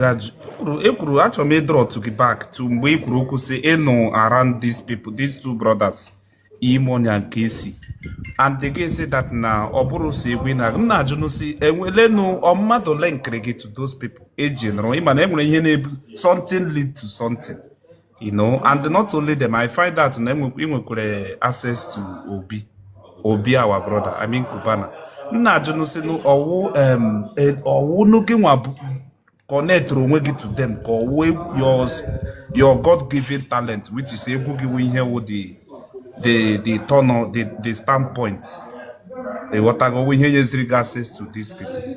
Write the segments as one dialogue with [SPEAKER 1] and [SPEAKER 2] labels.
[SPEAKER 1] ekwuru e achọrọ m ịdọrọtụ gị back to mgbe ị kwuru okwu sị ị nọ around these people these two brothers E-Money na Kcee and ị ga-asị that na ọ bụrụ sị egwu na m na-ajụnụ sị e nwelenụ mmadụ linkiri gị to those people ị ji nọrọ ị ma na e nwere ihe na-ebu something lead to something you know and not only them i find that na ị nwekwara access to obi obi our brother i mean cubana m na-ajụnụ sị ọ wụ ọ wụ na gịnwa connectere onwe gị to them ka ọ wụ yours your god given talent which is egwu gị wụ ihe wụ the the the turn the the standpoint ị ghọtago ihe nyeziri gị access to these people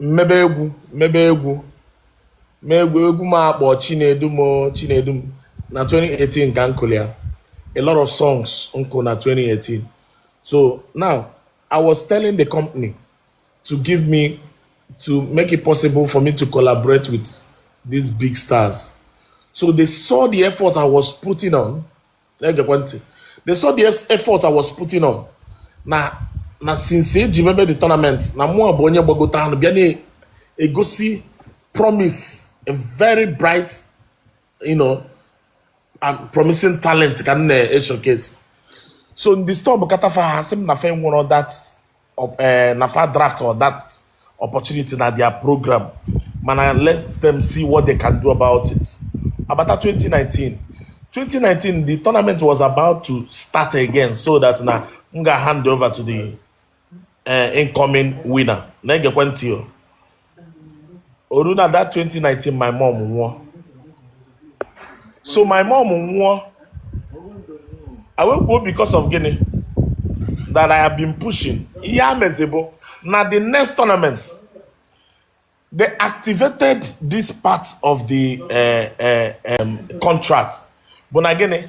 [SPEAKER 1] m mebe egwu m mebe egwu ma egwu egwu m a kpọ chinedum chinedum na 2018 ka m kụlụ ya a lot of songs m kụ na 2018 so now i was telling the company to give me to make it possible for me to collaborate with these big stars so they saw the effort i was putting on gekwa ntị they saw the effort I was putting on na na since e ji mebe the tournament na mụwa bụ onye gbagotanụ bịa na-egosi promise a very bright you know and promising talent ka m na-eshowcase so m distọbụkata fa ha sị m na fa enwerọ that eh, na fa draft or that opportunity na their program mana let them see what they can do about it agbata 2019 2019 the tournament was about to start again so that na m ga hand over to the eh, incoming winner na-egekwe ntị o o ru na that 2019 my mom nwụọ so my mom nwụọ e wee kwuo because of gịnị that I have been pushing ihe a mezị bụ na the next tournament they activated this part of the uh, uh, um, contract bụ na gịnị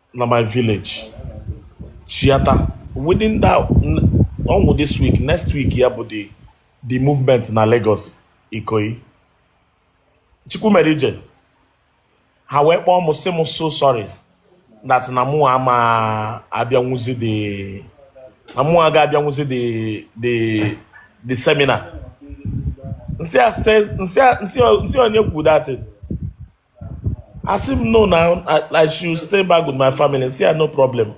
[SPEAKER 1] na my village chiata within that ọ nwụọ this week next week ya bụ the the movement na Lagos Ikoyi Chukwumerije ha wee kpọọ m sị m so sorry that na mụ ama abịanwuzi the na mụ aga abịanwuzi the the the seminar m sị onye kwuru that thing a sị m no na i should stay back with my family m sị ya no problem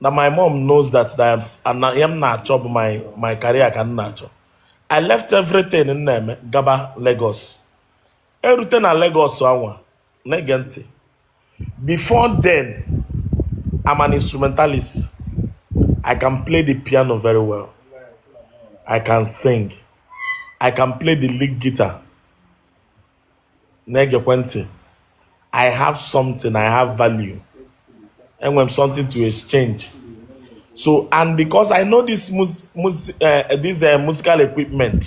[SPEAKER 1] na my mom knows that I am na ihe m na-achọ bụ my my career ka m na-achọ i left everything m na-eme gaba Lagos erute na Lagos anwa na-ege ntị before then I'm an instrumentalist I can play the piano very well I can sing I can play the lead guitar na-egekwe ntị i have something i have value enwere m something to exchange so and because i know this mus mus uh, this uh, musical equipment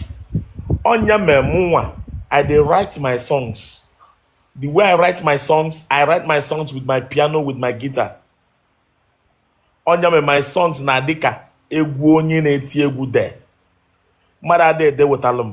[SPEAKER 1] ọ nya mere mụnwa i dey write my songs the way i write my songs i write my songs with my piano with my guitar ọ nya mere my songs na-adị ka egwu onye na-eti egwu de mmadụ adịghị edepụtalụ m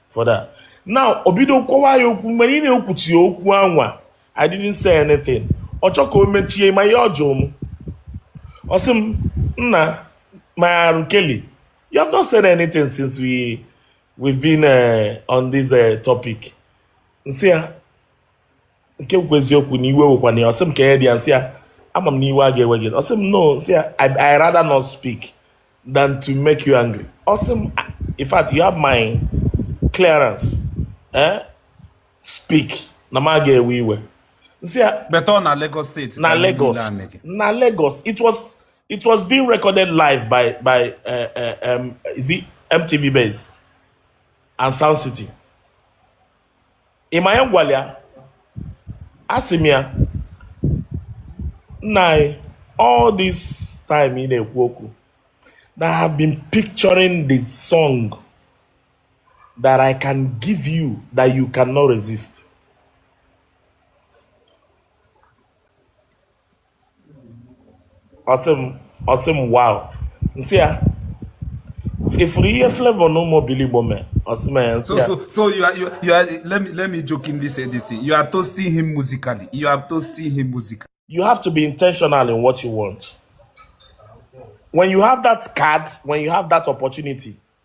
[SPEAKER 1] for that now o bido kọwa ya okwu mgbe ọ na-ekwucha okwu anwa I didn't say anything ọ chọ ka o mechie ị ma ihe ọ jụrụ m ọ sị m nna my R Kelly you have not said anything since we we've been uh, on this uh, topic m sị ya na ka m kwuo eziokwu na iwe ewekwana ya ọ sị m ka ya dị ya m sị ya ama m na iwe ga-ewe gị ọ sị m no m sị ya I, I rather not speak than to make you angry ọ sị m "Ah, in fact you have my clearance eh? speak na m aga ewe iwe m sị ya beta ọ na Lagos State na ka ihe niile Lagos a na-ege. na Lagos it was it was being recorded live by by uh, uh, um, is it MTV Base and Sound City ị ma ihe m gwara ya asị m ya nna anyị all this time ị na-ekwu okwu na I have been picturing the song that I can give you that you cannot resist. ọsị m ọsị m wow nsị ya ifuru ihe flavor na ụmụ obili igbo mee ọsị m ya nsị ya so so you are you are, you are let me let me jokingly say this thing you are toasting him musically you are toasting him musically you have to be intentional in what you want when you have that card when you have that opportunity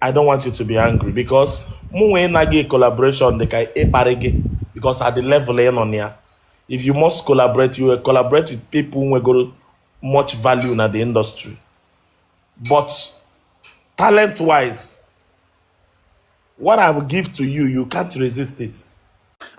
[SPEAKER 1] I don't want you to be angry because mụ nwee na gị collaboration dị ka ịkparị gị because at the level ị nọ na ya if you must collaborate you will collaborate with people nwegoro much value na the industry but talent wise What I will give to you, you can't resist it.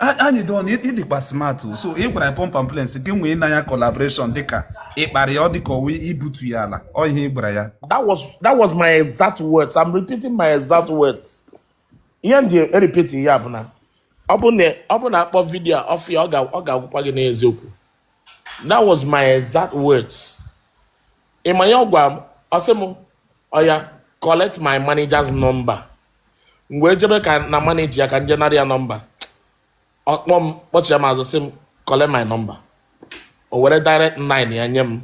[SPEAKER 1] Anyidon ị dịkwa smart so ị gwara pump and plain gị inwe na ya collaboration dịka ịkparị ya ọ dịka ọ wụ ibutu ya ala ọ ihe ị gwara ya that was that was my exact words i'm repeating my exact words ihe m ji repeat ya bụ na ọ bụ na a kpọọ vidio ọ fụ ya ọ ga-agwakwa gị n'eziokwu that was my exact words ị ma ihe ọ gwara m ọ sị m oya collect my manager's number m wee jebe ka na manager ya ka m je nara ya nọmba ọ kpọọ m kpọchigha m azụ sị m collect my number o were direct line ya nye m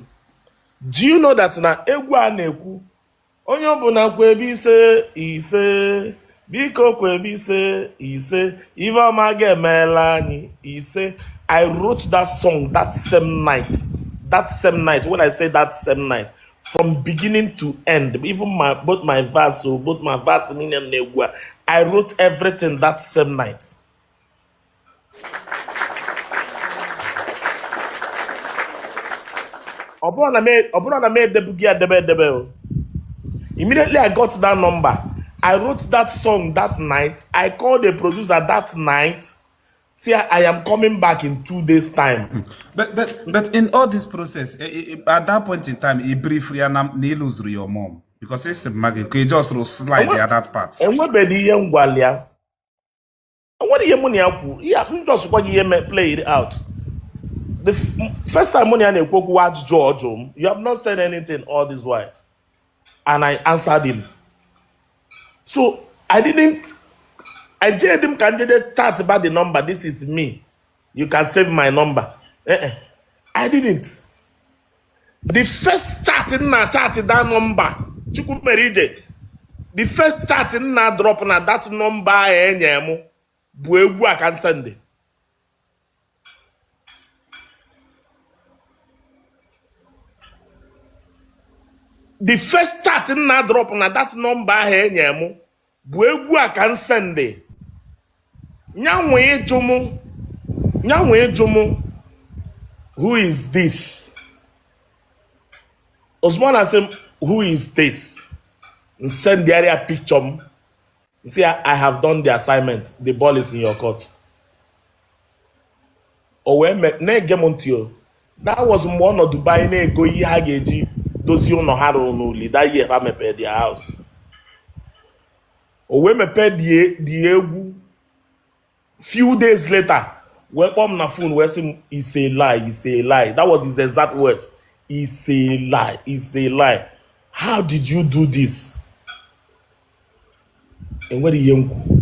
[SPEAKER 1] do you know that na egwu a na-ekwu onye ọbụla kwebe ise ise biko kwebe ise ise ife ọma ga-emela anyị ise i wrote that song that same night that same night when i say that same night from beginning to end even my both my verse o oh, both my verse niile na egwu a i wrote everything that same night ọ bụrụ na m edebughị ya debe edebe o immediately i got that number i wrote that song that night i called the producer that night say i am coming back in two days time hmm. but but but in all this process eh, eh, eh, at that point in time ị brief ya na ị lose-uru your mom because esi mma gị ka ị just slide ya that part enwebeghị ihe m gwalị ya nwere ihe mụ na ya kwuru ya m just gwa gị ihe me play it out the f- m- first time mụ na ya na-ekwu okwu wa ajụjụ ọ jụrụ m you have not said anything all this while and I answered him so I didn't ejeghịdị m ka m jee chatba the number this is me you can save my number eh -eh. I didn't the first chat m na-achat that number Chukwu mere ije the first chat m na-adrop na that number ahụ e nye m bụ egwu a ka m sende the first chat m na-adrop na that number ahụ e nye m bụ egwu a ka m sende nya wee jụ mụ nya wee jụ mụ who is this ozugbo ọ na-asị m who is this m sendara ya picture m m sị ya i have done the assignment the ball is in your court o wee na-ege m ntị o that was mgbe ọ nọ Dubai na-ego ihe ha ga-eji dozie ụlọ ha rụrụ n'Uli that year ha mepee their house o wee mepee the egwu few days later wee kpọọ m na phone wee sị m it's a lie it's a lie that was his exact words it's a lie it's a lie how did you do this enwere ihe m kwuru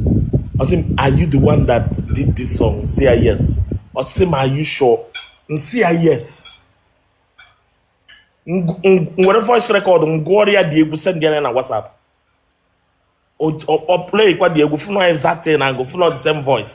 [SPEAKER 1] ọ sị m are you the one that did this song m sị ya yes ọ sị m are you sure m sị ya yes m were voice record m gụọrọ ya the egwu send ya na WhatsApp ọ play kwa the egwu fụ na ọ exact na-agụ fụ na ọ the same voice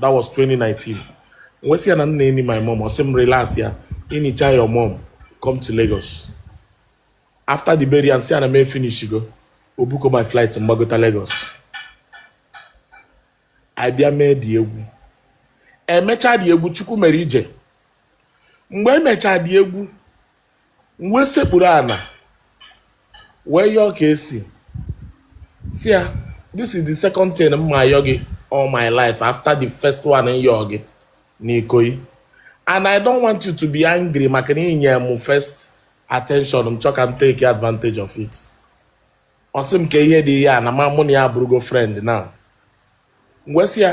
[SPEAKER 1] that was 2019 m wee sị ya na m na-eni my mom ọ sị m relaxịa i nichaa your mom come to Lagos after the burial m sị ya na m efinishigo ọ bookọ my flight m gbagota Lagos a bịa mee the egwu e mechaa the egwu Chukwu mere ije mgbe e mecha the egwu m wee sekpuru ala wee yọọ KCee sị ya this is the second thing m ma-ayọ gị all my life after the first one m yọọ gị n'Ikoyi and I don't want you to be angry maka na i nye m first attention m chọ ka m take advantage of it ọ sị m ka ihe dị ihe a na ma mụ na ya abụrụgo friend now m wee sị ya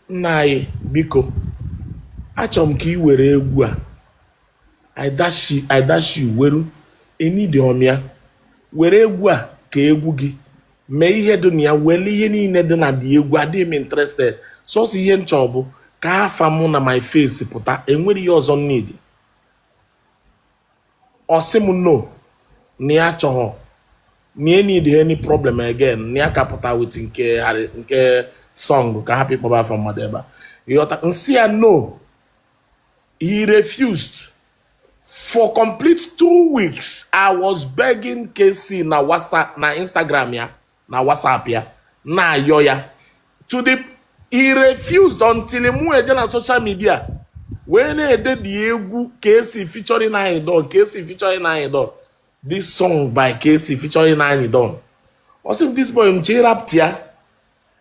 [SPEAKER 1] nna anyị biko achọrọ m ka ị were egwu a I dash you- I dash you weru eneedighọ m ya were egwu a ka egwu gị mee ihe dị na ya were ihe niile dị na the egwu adịghị m interested sọsọ ihe m chọrọ bụ ka afa mụ na my face pụta enwerọ ihe ọzọ m need ọ sị m no na ya achọghọ na ya need any problem again na ya ka pụta with nke nke song ka hapụ ịkpọba afa mmadụ ebe a ịghọta m sị ya no he refused for complete two weeks i was begging Kcee na whatsapp na instagram ya na WhatsApp ya na-ayọ ya to the he refused until mụ eje na social media wee na-ede the egwu Kcee featuring Anyidon Kcee featuring Anyidon this song by Kcee featuring Anyidon ọ sị m this boy m chọ ịrapụta ya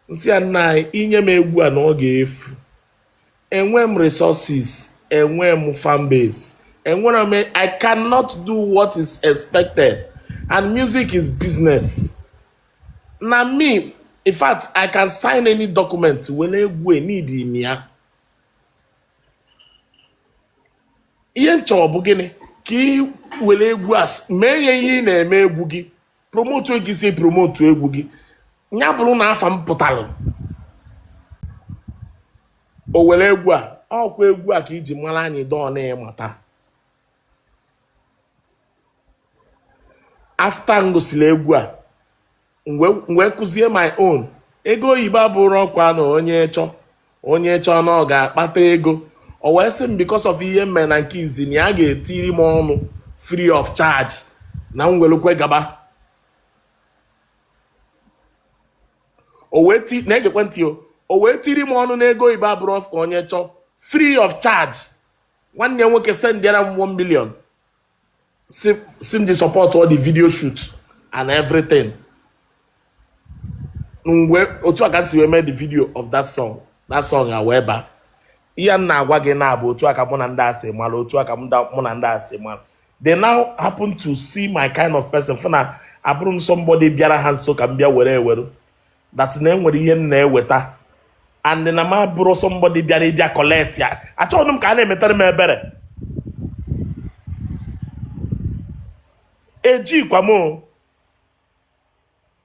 [SPEAKER 1] m sị ya nna anyị i nye m egwu a na ọ ga-efu enwe m resources enwe m fan base enwere m i cannot do what is expected and music is business na me in fact i can sign any document were egwu eneedi m ya ihe m chọrọ bụ gịnị ka ị were egwu as mee ya ihe ị na-eme egwu gị promotu otu i si promotu egwu gị ya bụrụ na afa m pụtara o were egwu a ọkwa egwu a ka e ji mara Anyidon na ịmata after m gụsịrị egwu a m wee kụzie my own ego Igbo abụrọ ọgwụ na onye chọ onye chọọ na ọ ga-akpata ego o wee sị m because of ihe m mere na nke izizi na ya ga-etiri m ọnụ free of charge na m welukwa gaba o wee ti na-egekwa ntị o o wee tiri m ọnụ n'ego Igbo abụrọ ọgwụ ka onye chọọ free of charge nwanne ya nwoke sendịara m 1 million sị sị m ji support all the video shoot and everything mgbe otu a ka m si wee mee the video of that song that song a wee baa ihe m na-agwa gị na ọ bụ otu a ka mụ na ndị a si mara otu a ka mụ da- mụ na ndị a si mara they now happen to see my kind of person fụ na abụrọ m somebody bịara ha nso ka m bịa were ewere that na enwere ihe m na-eweta and na m abụrọ somebody bịara ịbịa collect ya achọghị m ka a na-emetara m ebere ejikwa m o.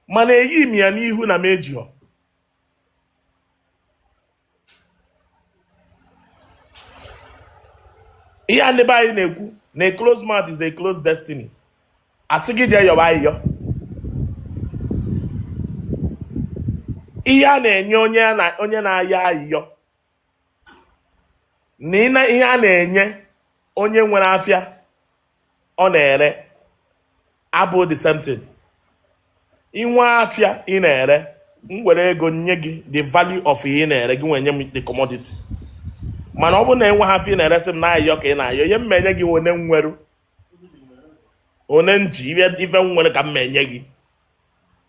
[SPEAKER 1] mana eyi m ya n'ihu na m ejighọ ihe a ndị be anyị na-ekwu na a close mouth is a close destiny a sị gị jee yọba ayịyọ ihe a na-enye onye na-ayọ ayịyọ na ihe a na-enye onye nwere afịa ọ na-ere abụ the same thing i nwee afịa ị na-ere m were ego nye gị the value of ihe ị na-ere gị nwee nye m the commodity mana ọ bụrụ na i nweha afịa ị na-eresị m na ayịyọ ka ị na-ayọ ihe m enye gị one nweru one nji ife m nwere ka m enye gị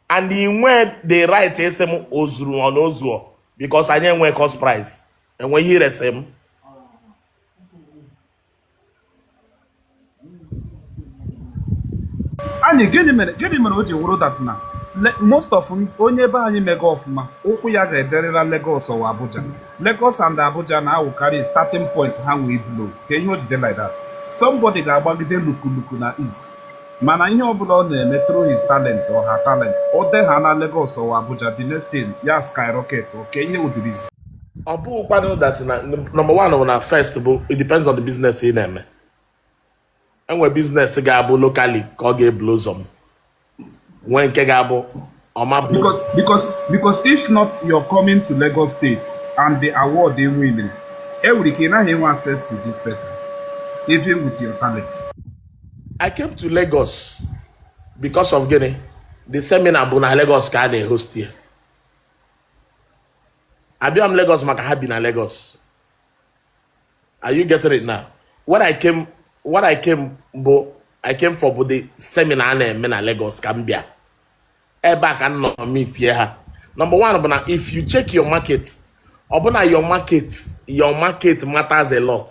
[SPEAKER 1] and ị nwee the right ịsị m o zuru ọ na o zuọ because anyị enwe cost price enwe ihe i resị m anyị gịnị mere gịnị mere o ji wụrụ that na most of onye be anyị mega ọfụma ụkwụ ya ga-ederịla Lagos ọ wụ Abuja Lagos and Abuja na-awụkarị starting point ha nwee blow kee ihe o ji dị like that somebody ga-agbagide lukuluku na east mana ihe ọbụla ọ na-eme through his talent or her talent o deha na Lagos ọ wụ Abuja the next thing ya skyrocket kee ihe wụ the reason ọ bụkwanụ that na number one bụ na first bụ it depends on the business ị na-eme e nwee business ga-abụ locally ka ọ ga-ebulu ụzọ m nwee nke ga-abụ ọ ma abụ Because, because, because if not, you're coming to Lagos State and the award they winning. Every can I have access to this person, even with your talent. I came to Lagos because of gịnị the seminar bụ na Lagos ka a na-ehost ya abịa m Lagos maka ha bi na Lagos are you getting it now what I came what I came bụ I came for bụ the seminar a na-eme na Lagos ka m bịa ebe a ka m nọ meetie ha number one bụ na if you check your market ọ bụ na your market your market matters a lot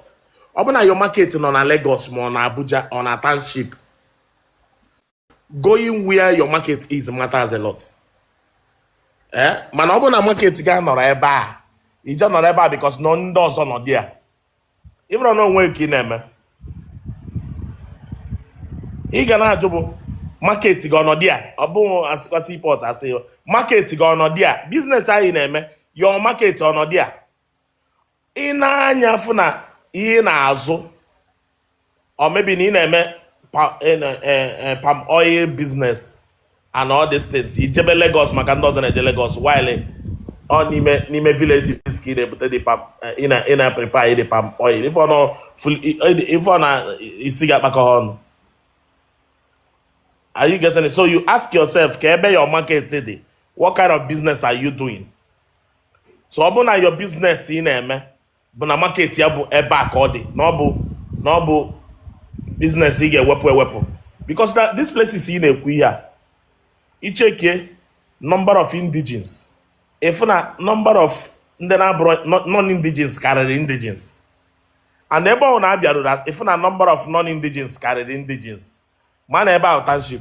[SPEAKER 1] ọ bụ na your market nọ na Lagos ma ọ na Abuja ọ na township going where your market is matters a lot eh? mana ọ bụrụ na market gị anọrọ ebe a i jee nọrọ ebe a because na ndị ọzọ nọ there ị mara na onwe ka ị na-eme ị ga na-ajụ bụ market gị ọ nọ there ọ bụghị a sịkwa seaport a sị market gị ọ nọ there business anyị na-eme your market ọ nọ there i nee anya fụ na ihe ị na-azụ or maybe na ị na-eme eh, eh, eh, palm oil business and all these things i jebe Lagos maka ndị ọzọ na-eje Lagos while ọ n'ime n'ime villages ka ị na-ebute the palm ị na ị na prepare the palm oil ị fụ na ị fụ na isi gị akpakọ ọnụ are you getting it so you ask yourself kee ebe your market dị what kind of business are you doing so ọ bụ na your business ị na-eme bụ na market ya bụ ebe a ka ọ dị na ọ bụ na ọ bụ business ị ga-ewepụ ewepụ because na this places ị na-ekwu ihe a i checkie number of indigenes ị fụ na number of ndị na-abụrụ non-indigenes karịrị indigenes and ebe ọ na-abịaruru as ị fụ na number of non-indigenes karịrị indigenes ma na ebe ahụ township